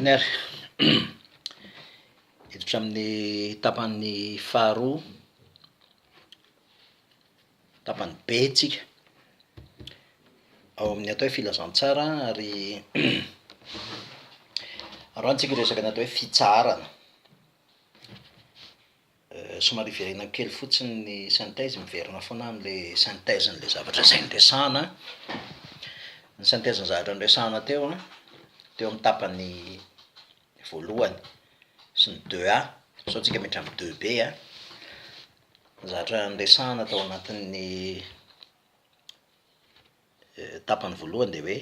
Ener. Hiditra amin'ny tapany faharoa, tapany B tsika, ao amin'ny atao hoe filazantsara ary androany tsika hiresaka ny atao hoe fitsaharana. Somary iverenako kely fotsiny ny synthèse, miverina foana aho amin'ilay synthèse n'ilay zavatra izay niresahana. Ny synthèse ny zavatra niresahana teo an, teo amin'ny tapany voalohany sy ny deux a, sao tsika miditra amin'ny deux b a, ny zavatra niresahana tao anatin'ny tapany voalohany dia hoe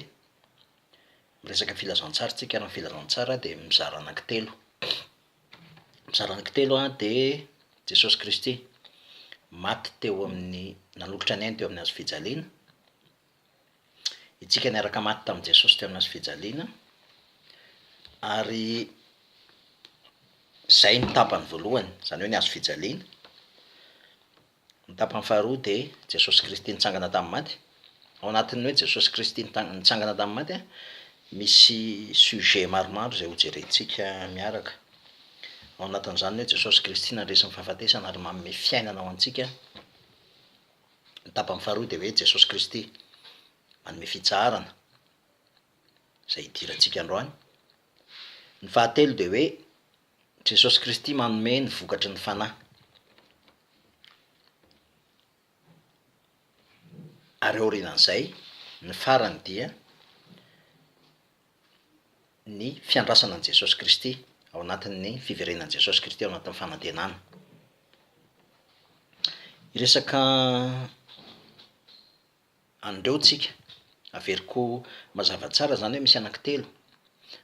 miresaka filazantsara isika ary ny filazantsara dia mizara anankitelo. Mizara anankitelo an dia Jesosy Kristy maty teo amin'ny nanolotra ny ainy teo amin'ny hazo fijaliana, itsika niaraka maty tamin'i Jesosy teo amin'ny hazo fijaliana, ary izay no tapany voalohany, izany hoe ny hazo fijaliana. Ny tapany faharoa dia Jesosy Kristy nitsangana tamin'ny maty. Ao anatin'ny hoe Jesosy Kristy nitsangana tamin'ny maty, misy sujet maromaro izay hojerentsika miaraka. Ao anatin'izany ny hoe Jesosy Kristy nandresy ny fahafatesana ary manome fiainana ho antsika. Ny tapany faharoa dia hoe Jesosy Kristy manome fitsaharana, izay hidirantsika androany. Ny fahatelo dia hoe Jesosy Kristy manome ny vokatry ny Fanahy, ary aorianan'izay, ny farany dia ny fiandrasana an'i Jesosy Kristy ao anatin'ny fiverenan'i Jesosy Kristy ao anatin'ny fanantenana. Hiresaka. an'ireo tsika. Averiko mazava tsara izany hoe misy anankitelo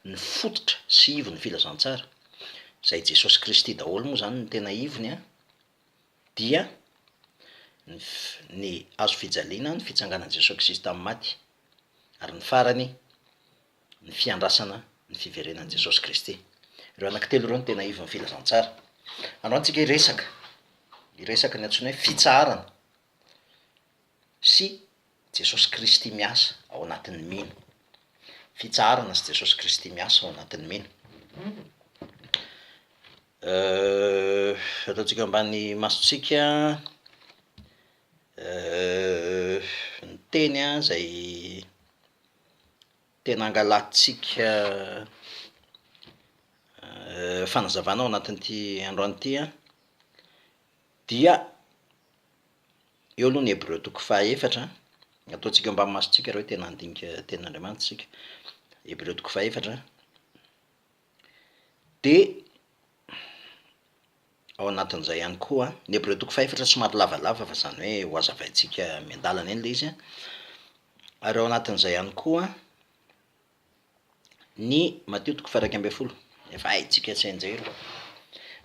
ny fototra sy ivon'ny filazantsara, izay i Jesosy Kristy daholo moa izany no tena ivony an, dia ny ny hazo fijaliana, ny fitsanganan'i Jesosy Kristy tamin'ny maty, ary ny farany ny fiandrasana ny fiverenan'i Jesosy Kristy. Ireo anankitelo ireo no tena ivon'ny filazantsara. Androany tsika hiresaka, hiresaka ny antsoina hoe fitsaharana. sy Jesosy Kristy miasa ao anatin'ny mino. Fitsaharana sy Jesosy Kristy miasa ao anatin'ny mino. Ataontsika ambany masontsika ny teny izay tena angalantsika fanazavana ao anatin'ity androany ity dia Eo aloha ny Hebreo toko fahaefatra an. Ataontsika eo ambanin'ny masontsika ireo tena handinika tenin'Andriamanitra isika. Hebreo toko fahaefatra an. Dia ao anatin'izay ihany koa an, ny Hebreo toko fahaefatra somary lavalava fa izany hoe ho hazavaintsika miandalana eny ilay izy an, ary ao anatin'izay ihany koa an. Ny Matio toko faha iraika ambin'ny folo, efa haintsika tsy hain-jery.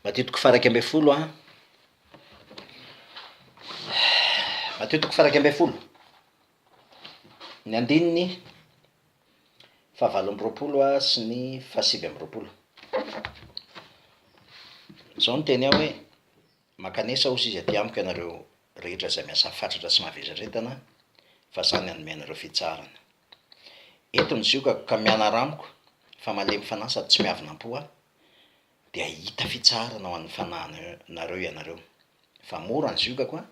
Matio toko faha iraika ambin'ny folo a. Matio toko faha iraika ambin'ny folo, ny andininy fahavalo amby roapolo a sy ny fahasivy amby roapolo. Izao no teny ao hoe, Mankanesa hozy izy aty amiko ianareo rehetra izay miasa fatratra sy mahavesatretana, fa izaho ny hanome anareo fitsaharana. Eto ny ziokako ka mianara amiko fa malemy fanahy sady tsy miavona am-po aho dia hahita fitsaharana ho an'ny fanahinareo ianareo. Fa mora ny ziokako an!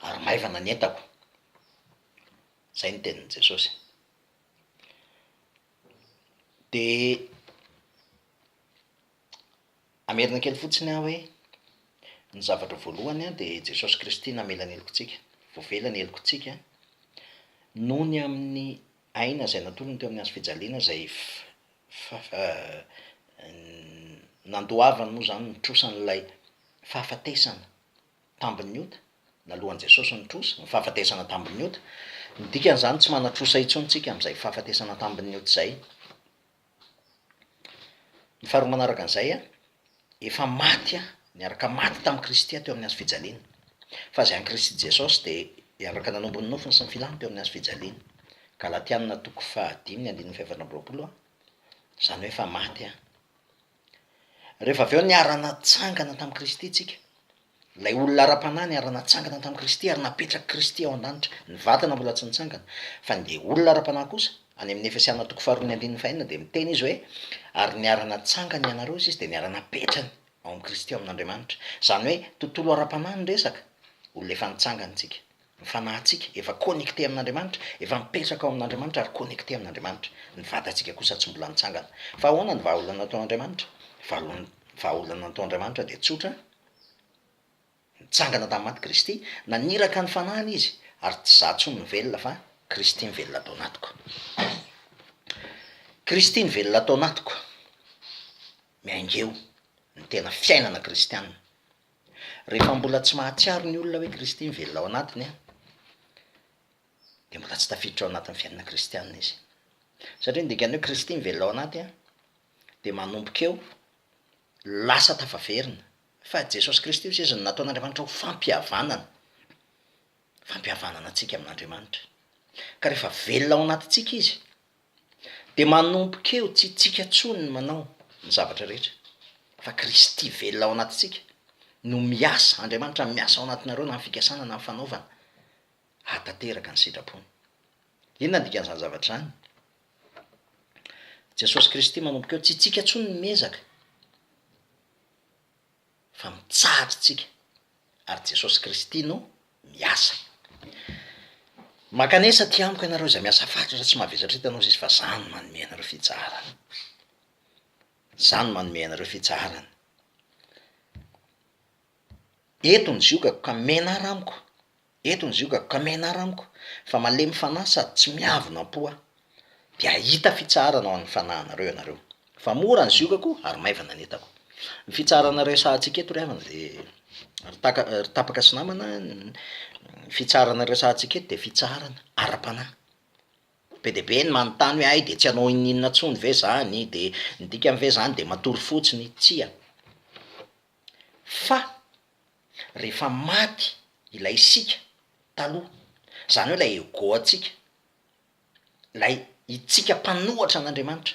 ary maivana ny entako. Izay ny tenin'i Jesosy. Dia Hamerina kely fotsiny aho hoe ny zavatra voalohany dia i Jesosy Kristy namela ny helokontsika, voavela ny helokontsika noho ny amin'ny aina izay natolony teo amin'ny hazo fijaliana izay nandoavany moa izany ny trosa an'ilay fahafatesana tambin'ny ota, naloan'i Jesosy ny trosa, ny fahafatesana tambin'ny ota. Ny dikan'izany tsy manan-trosa intsony tsika amin'izay fahafatesana tambin'ny ota izay. Ny faharoa manaraka an'izay, efa maty niaraka maty tamin'i Kristy aho teo amin'ny hazo fijaliana. Fa izay an'i Kristy Jesosy dia hiandraka nanompo ny nofiny sy ny filàny teo amin'ny hazo fijaliana. Galatiana toko fahadimy ny andininy fahaefatra amby roapolo, Izany hoe efa maty aho. Rehefa avy eo niara-natsangana tamin'i Kristy tsika. Ilay olona ara-panahy niara-natsangana tamin'i Kristy ary napetrak'i Kristy ao an-danitra. Ny vatana mbola tsy nitsangana. Fa ny dia olona ara-panahy kosa, any amin'ny Efesiana toko faharoa ny andininy fahenina dia miteny izy hoe, ary niara-natsangany ianareo izy izy dia niara-napetrany ao amin'i Kristy ao amin'Andriamanitra. Izany hoe tontolo ara-panahy no resaka, olona efa nitsangana tsika. Ny fanahintsika, efa connecté amin'Andriamanitra, efa mipetraka ao amin'Andriamanitra ary connecté amin'Andriamanitra. Ny vatantsika kosa tsy mbola nitsangana. Fa ahoana ny vahaolana atao Andriamanitra? Ny vahaolana atao Andriamanitra dia tsotra, nitsangana tamin'ny maty Kristy, naniraka ny fanahiny Izy, ary tsy izaho intsony no velona fa Kristy mivelona ato anatiko. Kristy mivelona ato anatiko, miainga eo ny tena fiainana kristianina. Rehefa mbola tsy mahatsiaro ny olona hoe Kristy mivelona ao anatiny, dia mbola tsy tafiditra ao anatin'ny fiainana kristianina izy. Satria ny dikan'ny hoe Kristy mivelona ao anaty, dia manomboka eo lasa tafaverina. Fa Jesosy Kristy hoy izy no nataon'Andriamanitra ho fampihavanana, fampihavanana antsika amin'Andriamanitra. Ka rehefa velona ao anatintsika izy, Dia manomboka eo tsy itsika tsony ny manao ny zavatra rehetra fa Kristy velona ao anatintsika no miasa, Andriamanitra miasa ao anatinareo na ny fikasana na ny fanaovana hahatanteraka ny sitrapony. Inona ny dikan'izany zavatra izany? Jesosy Kristy manomboka eo tsy itsika tsony no miezaka. fa mitsahatra isika ary Jesosy Kristy no miasa. Mankanesa aty amiko ianareo izay miasa fatratra tsy mavesatra eto anao Zisy fa za no manome anareo fitsaharana. Za no manome anareo fitsaharana. Eto ny ziokako ka menara amiko Eto ny ziogako ka menara amiko fa malemy fanahy sady tsy miavona am-po aho. Dia hahita fitsaharana ho an'ny fanahinareo ianareo. Fa mora ny ziogako ary maivana ny entako. Ny fitsaharana resahantsika eto ry havana dia, ry taka, ry tapaka sy namana, ny fitsaharana resahantsika eto dia fitsaharana ara-panahy. Be dia be ny manontany hoe hay dia tsy hanao ininona intsony ve izany, dia ny dikany ve izany dia matory fotsiny? Tsia. Fa. rehefa maty ilay isika taloha, izany hoe ilay ego-ntsika, ilay itsika mpanohatra an'Andriamanitra,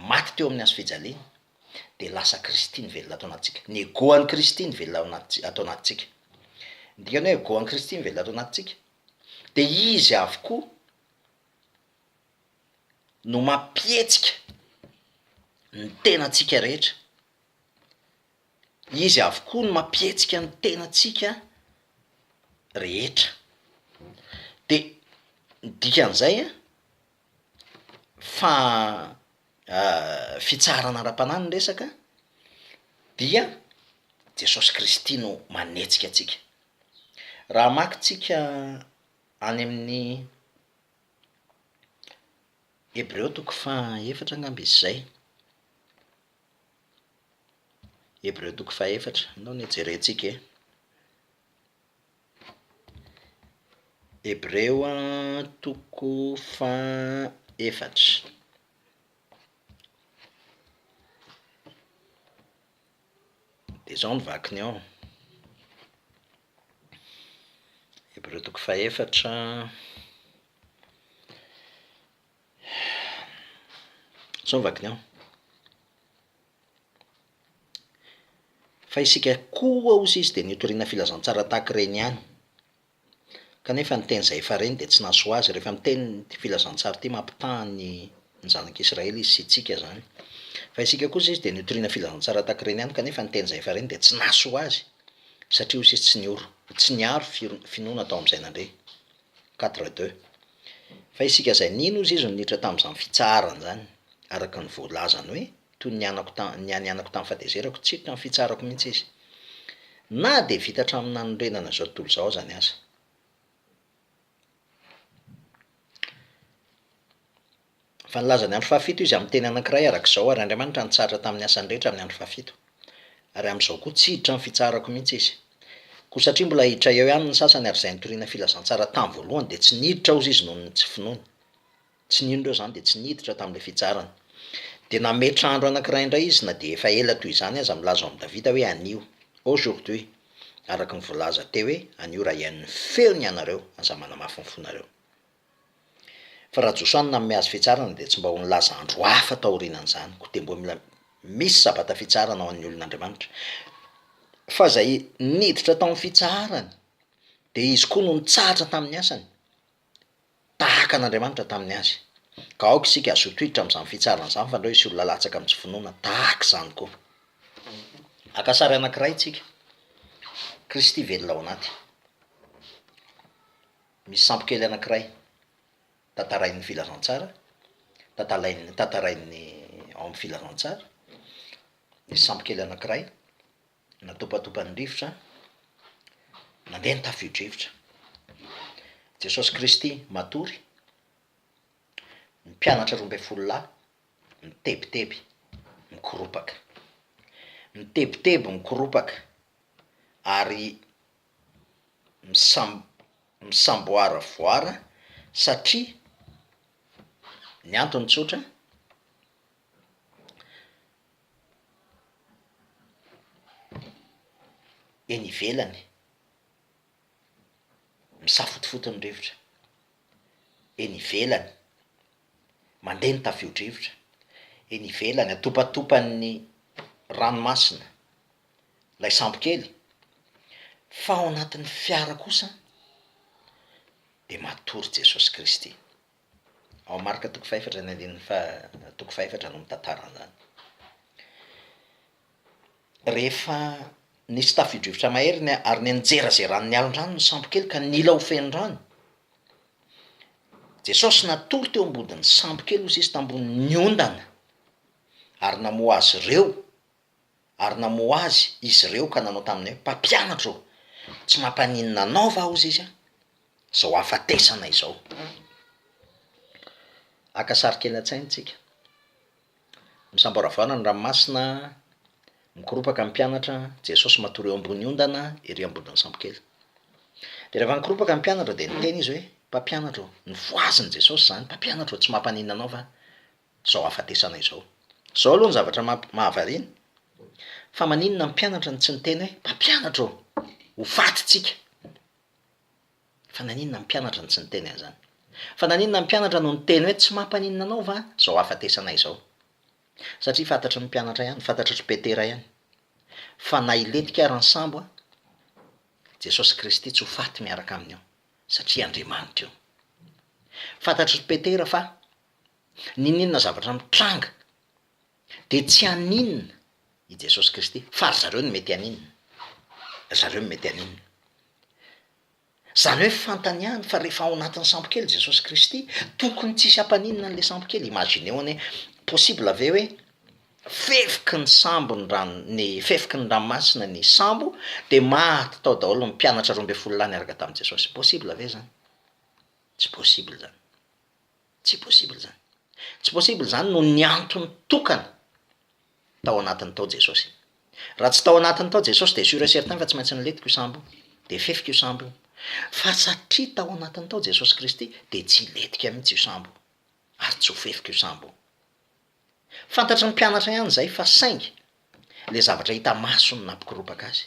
maty teo amin'ny hazo fijaliana, dia lasa Kristy nivelona ato anatintsika. Ny ego-n'i Kristy nivelona ao anatintsika, ato anatintsika. Ny dikan'ny hoe ego-n'i Kristy mivelona ato anatintsika, dia Izy avokoa no mampihetsika ny tenantsika rehetra. Izy avokoa no mampihetsika ny tenantsika rehetra. De ny dikan'izay an, fa fitsaharana ara-panahy no resaka dia Jesosy Kristy no manetsika antsika. Raha hamaky tsika any amin'ny Hebreo toko faha efatra angamba izy zay. Hebreo toko fahefatra no nijerentsika e. Hebreo toko fahefatra. Dia izao ny vakiny ao, Hebreo toko fahefatra. Zao ny vakiny an. Fa isika koa hoy izy dia nitoriana filazantsara tahaka ireny ihany, kanefa ny teny izay efa reny dia tsy nahasoa azy, rehefa miteny ity filazantsara ity mampitaha ny zanak'Israely izy sy antsika izany, fa isika koa hoy izy dia nitoriana filazantsara tahaka ireny ihany, kanefa ny teny izay efa reny dia tsy nahasoa azy, satria hoy izy tsy niaro finoana tao amin'izay nandre. Quatre deux. Fa isika izay nino ozy izy no niditra tamin'izany fitsaharana izany, araka ny voalazany hoe, toy ny anako ta, ny an'ny anako tamin'ny fahatezerako, tsy hiditra ny fitsaharako mihitsy izy. Na dia vita hatramin'ny nanorenana izao tontolo izao azany aza. Fa nilaza ny andro fahafito Izy amin'ny teny anankiray araka izao, Ary Andriamanitra nitsahatra tamin'ny asany rehetra amin'ny andro fahafito. Ary amin'izao koa, tsy hiditra ny fitsaharako mihitsy Izy. Koa satria mbola hiditra eo ihany ny sasany, ary izay nitoriana filazantsara tamin'ny voalohany dia tsy niditra ozy izy noho ny tsy finoany. Tsy nino ireo izany dia tsy niditra tamin'ilay fitsaharana. Dia nametra andro anankiray indray Izy na dia efa ela toy izany aza, milaza ao amin'i Davida hoe, Anio, aujourd'hui, araka ny voalaza teo hoe, Anio raha hihaino ny feony ianareo, aza manamafy ny fonareo. Fa raha Josoa no nanome azy fitsarana dia tsy mba ho nilaza andro hafa taorianan'izany, koa dia mbola mila misy sabata fitsarana ho an'ny olon'Andriamanitra. Fa izay niditra tao amin'ny fitsaharany dia izy koa no nitsahatra tamin'ny asany, tahaka an'Andriamanitra tamin'ny azy. Ka aoka isika hazoto hiditra amin'izany fitsarana izany fa andao hisy olona latsaka amin'ny tsy finoana tahaka izany koa. Haka sary anankiray isika, Kristy velona ao anaty. Misy sampy kely anankiray tantarain'ny filazantsara, tantalain'ny, tantarain'ny ao amin'ny filazantsara. Nisy sampy kely anankiray natopatopan'ny rivotra, nandeha ny tafio-drivotra. Jesosy Kristy matory, ny mpianatra roa ambin'ny folo lahy mitebiteby, mikoropaka. Mitebiteby, mikoropaka ary. misam- misamboaravoara satria ny antony tsotra eny ivelany misafotofoto ny rivotra, eny ivelany mandeha ny tafio-drivotra, eny ivelany atopatopan'ny ranomasina. lay sambo kely, fa ao anatin'ny fiara kosa de matory Jesosy Kristy. Ao Marka toko fahefatra ny andininy faha toko fahefatra no mitantara an'izany. Rehefa nisy tafio-drivotra mahery ny ary nenjerazeran'ny alon-drano ny sambo kely ka nila ho feno rano, Jesosy natory teo am-bodin'ny sambo kely hoy sisa tambonin'ny ondana ary namoha azy ireo ary namoha azy izy ireo ka nanao taminy hoe, Mpampianatra ô, tsy mampaninona anao va hozy izy, izao hahafatesana izao? Haka sary kely an-tsaina tsika, misamboravara ny ranomasina, mikoropaka ny mpianatra, Jesosy matory eo ambony ondana ery ambodin'ny sambokely. Dia rehefa nikoropaka ny mpianatra dia niteny izy hoe, Mpampianatra ô, nofohaziny Jesosy izany, Mpampianatra ô, tsy mampaninona anao va? zao hafatesana izao. Zao aloha ny zavatra mamp- mahavariana fa maninona ny mpianatra no tsy niteny hoe mpampianatra ô! ho faty tsika! Fa naninona ny mpianatra no tsy niteny an'izany? Fa naninona ny mpianatra no niteny hoe tsy mampaninona anao va zao hafatesana izao? Satria fantatry ny mpianatra ihany, fantatry ry Petera ihany fa na hilentika ary ny sambo an, Jesosy Kristy tsy ho faty miaraka amin'io satria Andriamanitra io. Fantatry ry Petera fa N'inon'inona zavatra mitranga dia tsy haninona i Jesosy Kristy fa ry zareo no mety haninona. Ry zareo no mety haninona. Izany hoe fantany ihany fa rehefa ao anatin'ny sambokely Jesosy Kristy, tokony tsisy hampaninona an'ilay sambokely. Imagineo anie, possible ve hoe fefiky ny sambo ny rano, ny fefiky ny ranomasina ny sambo dia maty tao daholo ny mpianatra roa ambin'ny folo lahy niaraka tamin'i Jesosy. Possible ve izany? Tsy possible izany. Tsy possible izany. Tsy possible izany noho ny antony tokana, tao anatiny tao Jesosy. Raha tsy tao anatiny tao Jesosy dia sûr et certain fa tsy maintsy niletiky io sambo io, dia fefika io sambo io. Fa satria tao anatiny tao Jesosy Kristy dia tsy hiletika mihitsy io sambo io, ary tsy ho fefika io sambo io. Fantatry ny mpianatra ihany izay fa saingy le zavatra hita maso no nampikoropaka azy.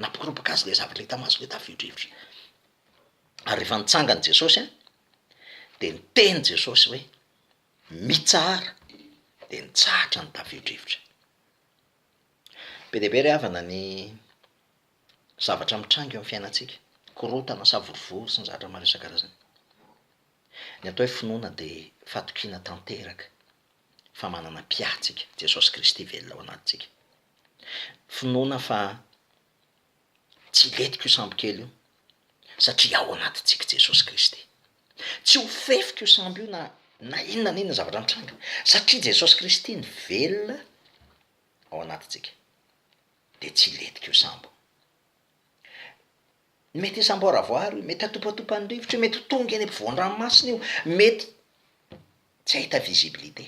Nampikoropaka azy le zavatra hita maso le tafidrivotra. Ary rehefa nitsangany Jesosy a, de niteny Jesosy hoe mitsahara, de nitsahatra ny tafio-drivotra. Be dia be ry havana ny. zavatra mitranga eo amin'ny fiainantsika, korontana, savorovoro sy ny zavatra maro isan-karazany. Ny atao hoe finoana dia fatokiana tanteraka fa manana Mpiatsika, Jesosy Kristy velona ao anatintsika. Finoana fa tsy hilentika io sambo kely io satria ao anatintsika Jesosy Kristy. Tsy ho fefika io sambo io na na inona na inona zavatra mitranga satria Jesosy Kristy ny velona ao anatintsika. dia tsy hilentika io sambo io. Mety hisamboaravoara io, mety hatopatopan'ny rivotra io, mety ho tonga eny ampovoan-dranomasina io, mety tsy hahita visibilité,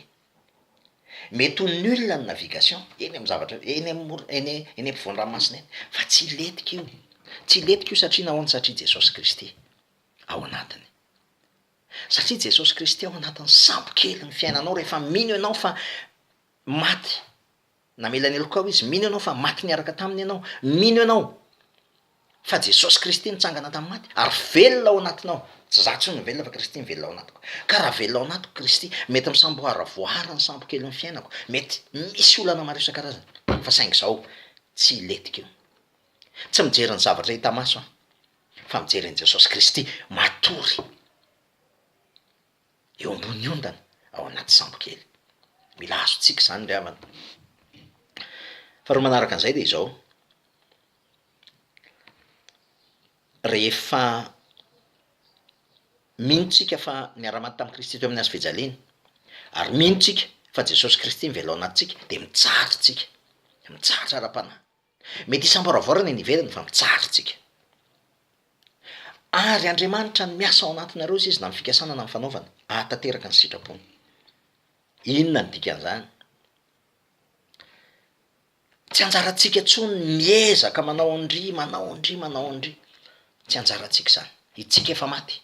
mety ho nul ny navigation eny amin'ny zavatra, eny amor- eny eny ampovoan-dranomasina eny, fa tsy hilentika io, tsy hilentika io satria nahoana, satria Jesosy Kristy ao anatiny. Satria Jesosy Kristy ao anatin'ny sambo kelin'ny fiainanao, rehefa mino ianao fa maty Namela ny lokao izy. Mino ianao fa maty niaraka taminy ianao. Mino ianao fa Jesosy Kristy nitsangana tamin'ny maty ary velona ao anatinao. Tsy izaho intsony no velona fa Kristy no velona ao anatiko. Ka raha velona ao anatiko Kristy, mety misamboara voahary ny sambo kelin'ny fiainako, mety misy olana maro isan-karazany, fa saingy izaho tsy hilentika eo. Tsy mijery ny zavatra hita maso aho, fa mijery an'i Jesosy Kristy matory. eo ambony ondana ao anaty sambo kely. Mila azontsika izany ry havana. Faharoa manaraka an'izay dia izao, rehefa mino isika fa niara-maty tamin'i Kristy teo amin'ny hazo fijaliana, ary mino isika fa Jesosy Kristy no velao anatintsika, dia mitsara isika, mitsara ara-panahy. Mety hisamboaravoara ny any ivelany fa mijaly tsika. Ary Andriamanitra no miasa ao anatinareo hoy izy na ny fikasana na ny fanaovana ahatanteraka ny sitrapony. Inona ny dikan'izany? Tsy anjarantsika intsony ny miezaka manao an-dry, manao an-dry, manao an-dry. Tsy anjarantsika izany. Itsika efa maty.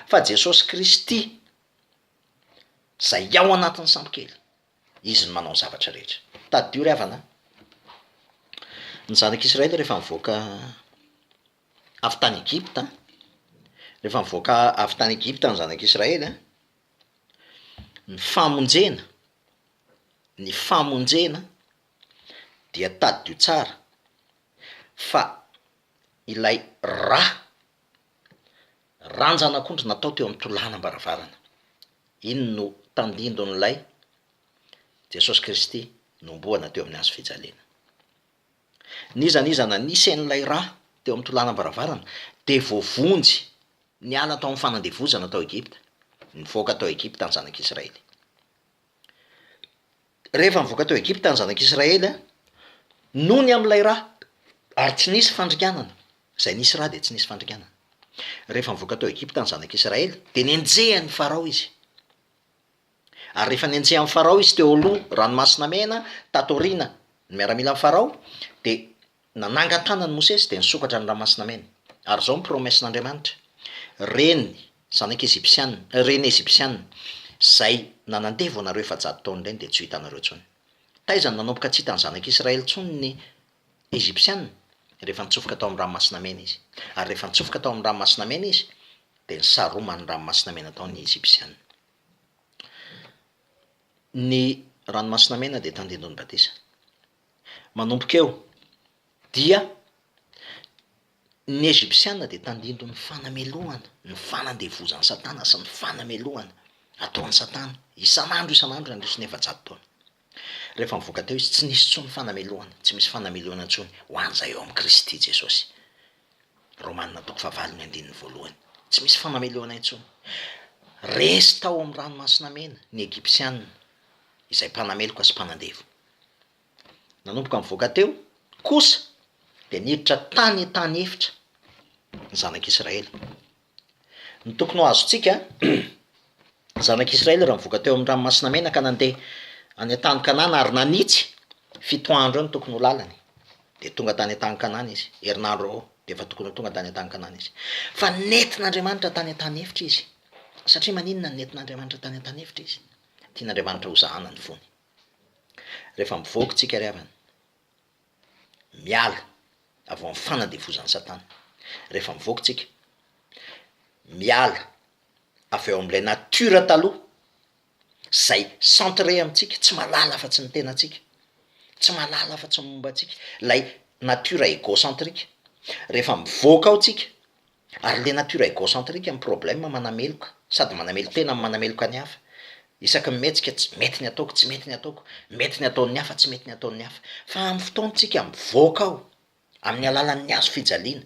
Fa Jesosy Kristy izay ao anatin'ny sambokely, Izy no manao ny zavatra rehetra. Tadidio ry havana an! Ny Zanak' Israely rehefa nivoaka avy tany Egypta, rehefa nivoaka avy tany Egypta ny Zanak' Israely an, ny famonjena, ny famonjena dia tadidio tsara fa ilay ra Ranjan'akondro natao teo amin'ny tolànam-baravarana. Iny no tandindon'ilay Jesosy Kristy nohomboana teo amin'ny hazo fijaliana. N'iza n'iza nanisa an'ilay rà teo amin'ny tolànam-baravarana dia voavonjy niala tao amin'ny fanandevozana tao Egypta, nivoaka tao Egypta ny zanak'Israely. Rehefa nivoaka tao Egypta ny zanak'Israely nony amin'ilay ra, ary tsy nisy fandringanana, izay nisy ra dia tsy nisy fandringanana. Rehefa nivoaka tao Egypta ny zanak'Israely dia nenjehan'i Farao izy. Ary rehefa nenjehan'i Farao izy teo aloha Ranomasina Mena, tato aoriana, ny miaramilan'i Farao, dia Nanangan-tànan'i Mosesy dia nisokatra ny Ranomasina Mena. Ary izao ny promesse-n'Andriamanitra, Reny, zanak' Ejipsiana, reny Ejipsiana, izay nanandevo anareo efajato taona ireny dia tsy ho hitanareo intsony. Taiza no nanomboka tsy hitan'ny Zanak'i Israely intsony ny Ejipsiana? Rehefa nitsofoka tao amin'ny Ranomasina Mena izy. Ary rehefa nitsofoka tao amin'ny Ranomasina Mena izy, dia nisaroman'ny Ranomasina Mena tao ny Ejipsiana. Ny Ranomasina Mena dia tandindon'ny batisa. Manomboka eo, dia ny Ejipsianina dia tandindon' ny fanamelohana, ny fanandevozan'i Satana sy ny fanamelohana ataon'i Satana isan'andro isan'andro nandritra ny efajato taona. Rehefa nivoaka teo izy, tsy nisy intsony fanamelohana, tsy misy fanamelohana intsony ho an'izay ao amin'i Kristy Jesosy. Romana toko fahavalo ny andininy voalohany. Tsy misy fanamelohana intsony. Resy tao amin'ny Ranomasina Mena ny Ejipsianina, izay mpanameloka sy mpanandevo. Nanomboka nivoaka teo kosa dia niditra tany an-tany efitra ny zanak'Israely. Ny tokony ho azontsika, ny zanak'Israely raha nivoaka teo amin'ny Ranomasina Mena ka nandeha any an-tany Kanana ary nanitsy fito andro eo ny tokony ho lalany dia tonga tany an-tany Kanana izy, herinandro eo dia efa tokony ho tonga tany an-tany Kanana izy. Fa nentin'Andriamanitra tany an-tany efitra izy. Satria maninona no nentin'Andriamanitra tany an-tany efitra izy? Tian'Andriamanitra hozahana ny fony. Rehefa mivoaka tsika ry havana, miala avy ao amin'ny fanandevozan'i Satana. Rehefa mivoaka tsika, miala avy ao amin'ilay natiora taloha, zay centre amintsika, tsy mahalala afa-tsy ny tenantsika, tsy mahalala afa-tsy ny momba antsika, lay natiora egocentrique. Rehefa mivoaka ao tsika, Ary le nature egocentrique am problème manameloka sady manamelon-tena am manameloka ny hafa. Isaky ny mihetsika tsy mety ny ataoko tsy mety ny ataoko, mety ny ataon'ny hafa tsy mety ny ataon'ny hafa. Fa am fotoan-tsika mivoaka ao amin'ny alalan'ny hazo fijaliana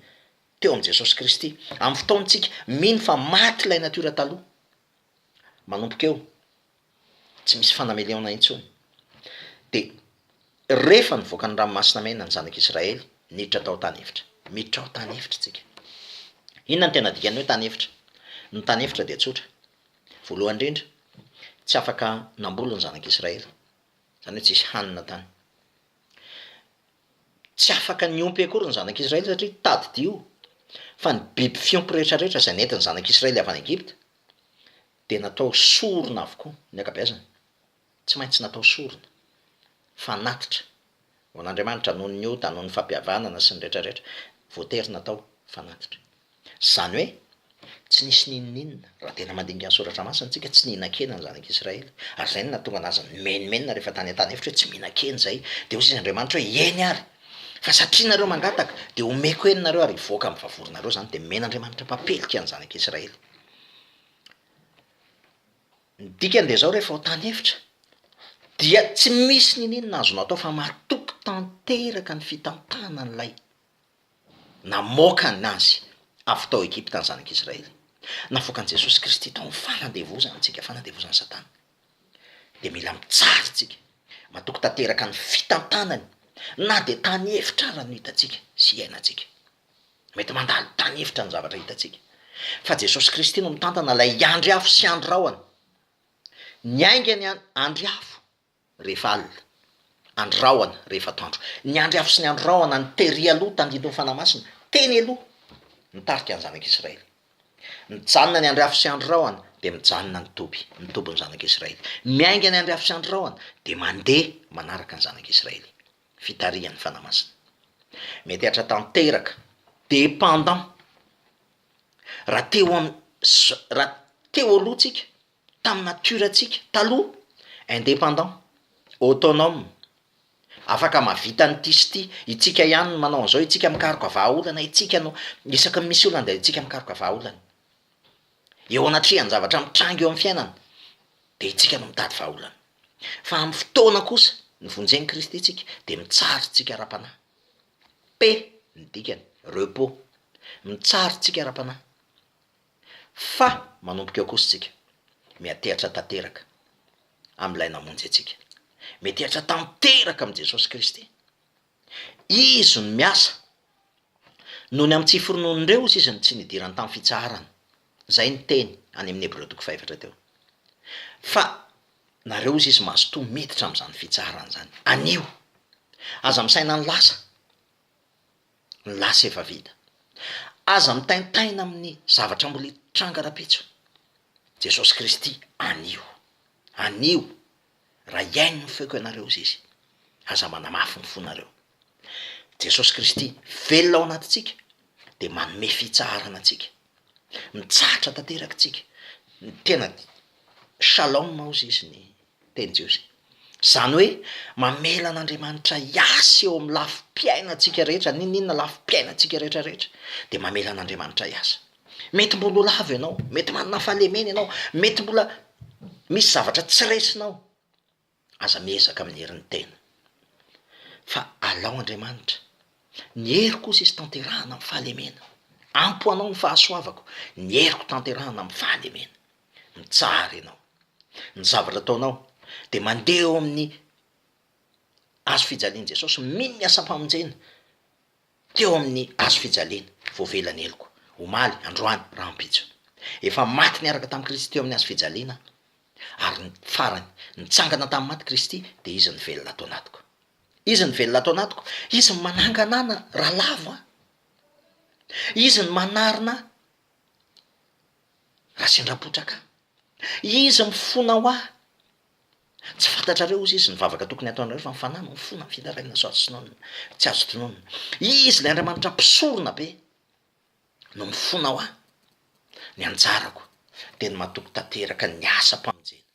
teo am Jesosy Kristy, am fotoan-tsika mino fa maty ilay nature taloha, manomboka eo, tsy misy fanameleona intsony. Dia rehefa nivoaka ny ranomasina mena ny zanak'i Israely, niditra tao tany efitra. Miditra ao tany efitra tsika. Inona no tena dikan'ny hoe tany efitra? Ny tany efitra dia tsotra. Voalohany indrindra, tsy afaka namboly ny zanak'i Israely. Izany hoe tsisy hanina tany. Tsy afaka niompy akory ny zanak'i Israely satria tadidio fa ny biby fiompy rehetrarehetra izay nentin'ny zanak'i Israely avy any Egypta, dia natao sorona avokoa ny ankabeazany, tsy maintsy natao sorona, fanatitra, ho an'Andriamanitra noho ny ota, noho ny fampihavanana sy ny rehetra rehetra, voatery natao fanatitra. Izany hoe, tsy nisy n'inon'inona, raha tena mandinika ny Soratra Masina isika, tsy nihinan-kena ny Zanak'i Israely, ary izay no nahatonga an'azy nimenomenona rehefa tany an-tany efitra hoe tsy mihinan-kena izay, dia hoy izy Andriamanitra hoe, eny ary, fa satria nareo mangataka, dia homeko heny nareo ary hivoaka amin'ny vavoronareo izany, dia men'Andriamanitra mpampilika ny Zanak'i Israely. Ny dikany dia zao rehefa ao tany efitra dia tsy misy niniana azonao atao fa matoky tanteraka ny fitantanana an'ilay namoaka anazy avy tao Egypta ny zanak' Israely. Navoakan'i Jesosy Kristy tao amin'ny fanandevozana antsika, fanandevozan'i Satana. Dia mila mijaly tsika, matoky tanteraka ny fitantanany na dia tany efitra ara no hitantsika sy iainantsika. Mety mandalo tany efitra ny zavatra hitantsika. Fa Jesosy Kristy no mitantana ilay andry afo sy andry rahona. Ny haingany an, andry afo, rehefa alina. Andry rahona, rehefa atoandro. Ny andry afo sy ny andry rahona no tery aloha tandindon'ny Fanahy Masina, teny aloha, nitarika ny zanak'Israely. Mijanona ny andry afo sy andry rahona, dia mijanona ny toby, ny tobin'ny zanak'Israely. Miainga ny andry afo sy andry rahona, dia mandeha manaraka ny zanak'Israely. fitarihan'ny Fanahy Masina. Mety hatra tanteraka, dépendant, raha teo am raha teo aloha tsika, tamin'ny nature tsika taloha, indépendant, autonome, afaka mahavita an'ity sy ity, itsika ihany no manao an'izao, itsika mikaroka vahaolana, itsika no isaky ny misy olana dia itsika mikaroka vahaolana. Eo anatrehan'ny zavatra mitranga eo amin'ny fiainana dia itsika no mitady vahaolana. Fa amin'ny fotoana kosa nivonjen'i Kristy itsika dia mitsary tsika ara-panahy. P, ny dikany, repos, mitsary tsika ara-panahy. Fa manomboka eo kosa tsika. Miatehatra tanteraka amin'ilay namonjy antsika. Miatehatra tanteraka amin'i Jesosy Kristy. Izy no miasa. Noho ny amin'ny tsy foronoan'ireo osa izy no tsy nidirany tamin'ny fitsaharana. Izay ny teny any amin'ny Hebreo toko fahefatra teo. Fa nareo osa izy mazotoa miditra amin'izany fitsaharana izany. Anio. Aza misaina ny lasa. Ny lasa efa vita. Aza mitaintaina amin'ny zavatra mbola hitranga rahampitso. Jesosy Kristy anio. Anio. raha hihaino ny feoko ianareo izy, aza manamafy ny fonareo. Jesosy Kristy velona ao anatintsika dia manome fitsaharana antsika. Mitsahatra tanteraka isika, ny tena shalom hozy izy ny teny jiosy. Izany hoe mamela an'Andriamanitra hiasa eo amin'ny lafim-piainantsika rehetra, n'inon'inona lafim-piainantsika rehetrarehetra dia mamela an'Andriamanitra hiasa. Mety mbola ho lavo ianao, mety manana fahalemena ianao, mety mbola misy zavatra tsy resinao, aza miezaka amin'ny herin'ny tena fa alao Andriamanitra, ny hery kosa izy tanterahana amin'ny fahalemena, ampy ho anao ny fahasoavako, ny heriko tanterahana amin'ny fahalemena, mitsara ianao, ny zavatra ataonao dia mandeha eo amin'ny hazo fijalian'i Jesosy, mino ny asam-pamonjena. teo amin'ny hazo fijaliana, voavela ny heloko, omaly, androany, rahampitso. Efa maty niaraka tamin'i Kristy teo amin'ny hazo fijaliana aho, ary ny farany, nitsangana tamin'ny maty Kristy, dia Izy no velona ato anatiko. Izy no velona ato anatiko, Izy no manangana ahy na raha lavo aho, Izy no manarina ahy raha sendra potraka aho, Izy mifona ho ahy Tsy fantatrareo ozy izy ny vavaka tokony hataonareo fa ny fanahy no fona vita rainina sao tsy nonina tsy azo tononina izy ilay Andriamanitra mpisorona be no mifona hoa ny anjarako dia ny matoky tanteraka ny asam-pamonjena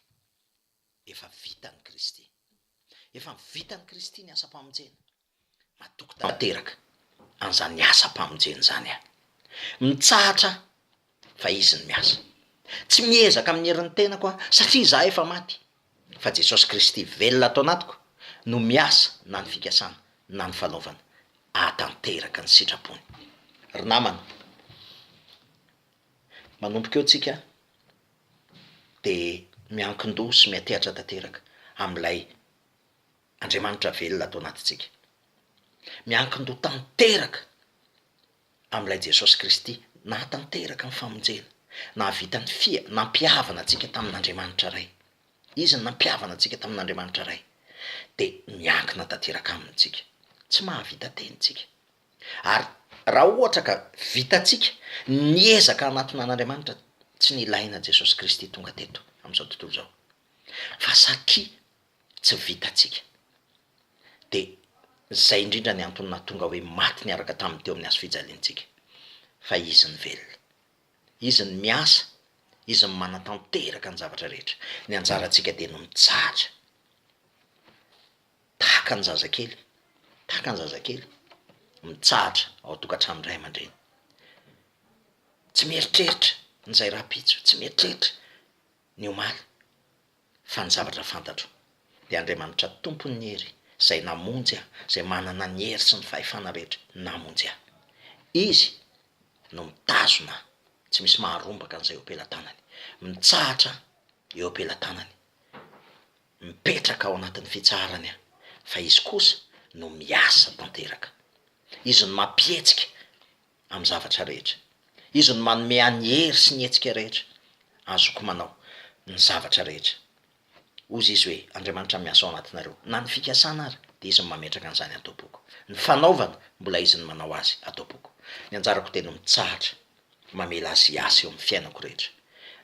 efa vitan'i Kristy efa vitan'i Kristy ny asam-pamonjena Matoky tanteraka an'izany asam-pamonjena izany aho. Mitsahatra aho fa Izy no miasa. Tsy miezaka amin'ny herin'ny tenako aho satria izaho efa maty, fa Jesosy Kristy velona ato anatiko no miasa na ny fikasana na ny fanaovana ahatanteraka ny sitrapony. Ry namana, manomboka eo tsika dia miankin-doha sy miantehatra tanteraka amin'ilay Andriamanitra velona ato anatintsika. Miankin-doha tanteraka amin'ilay Jesosy Kristy nahatanteraka ny famonjena, nahavita ny fia, nampihavana antsika tamin'Andriamanitra Ray. Izy no nampihavana antsika tamin'Andriamanitra Ray. Dia miankina tanteraka Aminy isika. Tsy mahavita tena isika. Ary raha ohatra ka vitantsika ny ezaka hanatona an'Andriamanitra, tsy nilaina Jesosy Kristy tonga teto amin'izao tontolo izao. Fa satria tsy vitantsika. Dia izay indrindra ny antony nahatonga hoe maty niaraka taminy teo amin'ny hazo fijaliantsika. Fa Izy no velona. Izy no miasa, Izy no manatanteraka ny zavatra rehetra. Ny anjarantsika dia ny mijaly. Tahaka ny zazakely, tahaka ny zazakely mitsahatra ao an-tokantranon'ny ray aman-dreny. Tsy mieritreritra ny izay rahampitso, tsy mieritreritra ny omaly. Fa ny zavatra fantatro, dia Andriamanitra Tompon' ny hery, Izay namonjy ahy, Izay manana ny hery sy ny fahefana rehetra, namonjy ahy. Izy no mitazona ahy, tsy misy maharombaka an'izay eo am-pelatanany. Mitsahatra aho eo am-pelatanany, mipetraka ao anatin'ny fitsaharany aho, fa Izy kosa no miasa tanteraka. Izy no mampihetsika. amin'ny zavatra rehetra. Izy no manome ahy ny hery sy ny hetsika rehetra azoko manao ny zavatra rehetra. Hozy Izy hoe, Andriamanitra miasa ao anatinareo, na ny fikasana ary, dia Izy no mametraka an'izany adoboka. Ny fanaovana, mbola Izy no manao azy adoboka. Ny anjarako dia ny mitsahatra, mamela Azy hiasa eo amin'ny fiainako rehetra.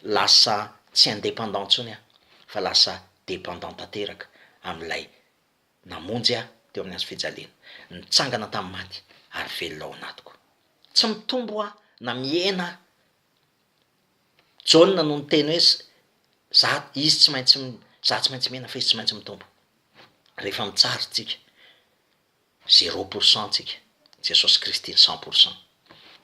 Lasa tsy indépendant intsony aho, fa lasa dépendant tanteraka amin'ilay. Namonjy ahy teo amin'ny hazo fijaliana, nitsangana tamin'ny maty ary velona ao anatiko. Tsy mitombo aho na mihena aho. Jaona no niteny hoe, Za, izy tsy maintsy, za tsy maintsy mihena fa izy tsy maintsy mitombo. Rehefa mitsara tsika, zéro pour cent tsika, Jesosy Kristy ny cent pour cent.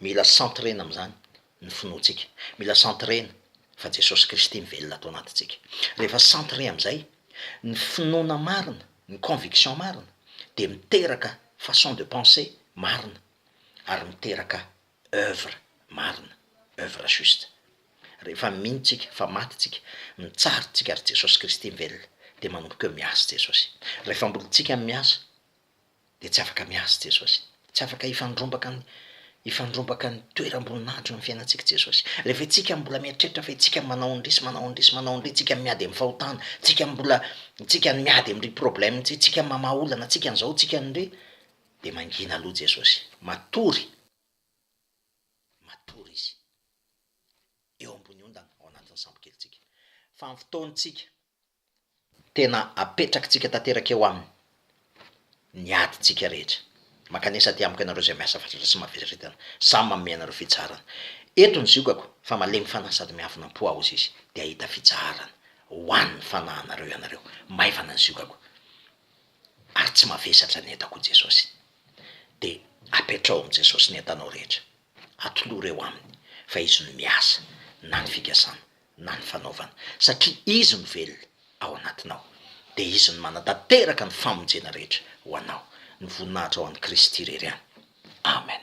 Mila centrer-na amin'izany ny finoantsika. Mila centrer-na fa Jesosy Kristy mivelona ato anatintsika. Rehefa centrer amin'izay ny finoana marina, ny conviction marina, dia miteraka façon de penser marina ary miteraka œuvre marina, œuvre juste. Rehefa mino tsika fa maty tsika, mitsara tsika ary Jesosy Kristy mivelona, dia manomboka eo miasa Jesosy. Rehefa mbola tsika miasa, dia tsy afaka miasa i Jesosy. Tsy afaka hifandrombaka ny hifandrombaka ny toeram-boninahitry ny fiainantsika i Jesosy. Rehefa itsika mbola mieritreritra fa itsika manao an-dry sy manao an-dry sy manao an-dry, itsika no miady amin'ny fahotana, itsika no mbola itsika no miady amin-dry problème, itsika no mamaha olana, itsika an'izao, itsika no ry, dia mangina aloha Jesosy. Matory. Matory Izy. Eo ambony ondana ao anatin'ny sambokely-tsika. Fa amin'ny fotoan-tsika, tena apetrakitsika tanteraka eo aminy ny adintsika rehetra. Mankanesa aty amiko ianareo izay miasa fatratra sy maviritana, samy manome anareo fitsaharana. Eto ny ziokako fa malemy fanahy sady miavona am-po aho hozy izy dia hahita fitsaharana ho an' ny fanahinareo ianareo. Maivana ny ziokako ary tsy mavesatra ny entako hoy Jesosy. Dia apetraho amin'i Jesosy ny entanao rehetra, atolory eo Aminy fa Izy no miasa na ny fikasana na ny fanaovana, satria Izy no velona ao anatinao, dia Izy no manatanteraka ny famonjena rehetra ho anao, ny voninahitra ho an'i Kristy irery ihany. Amen.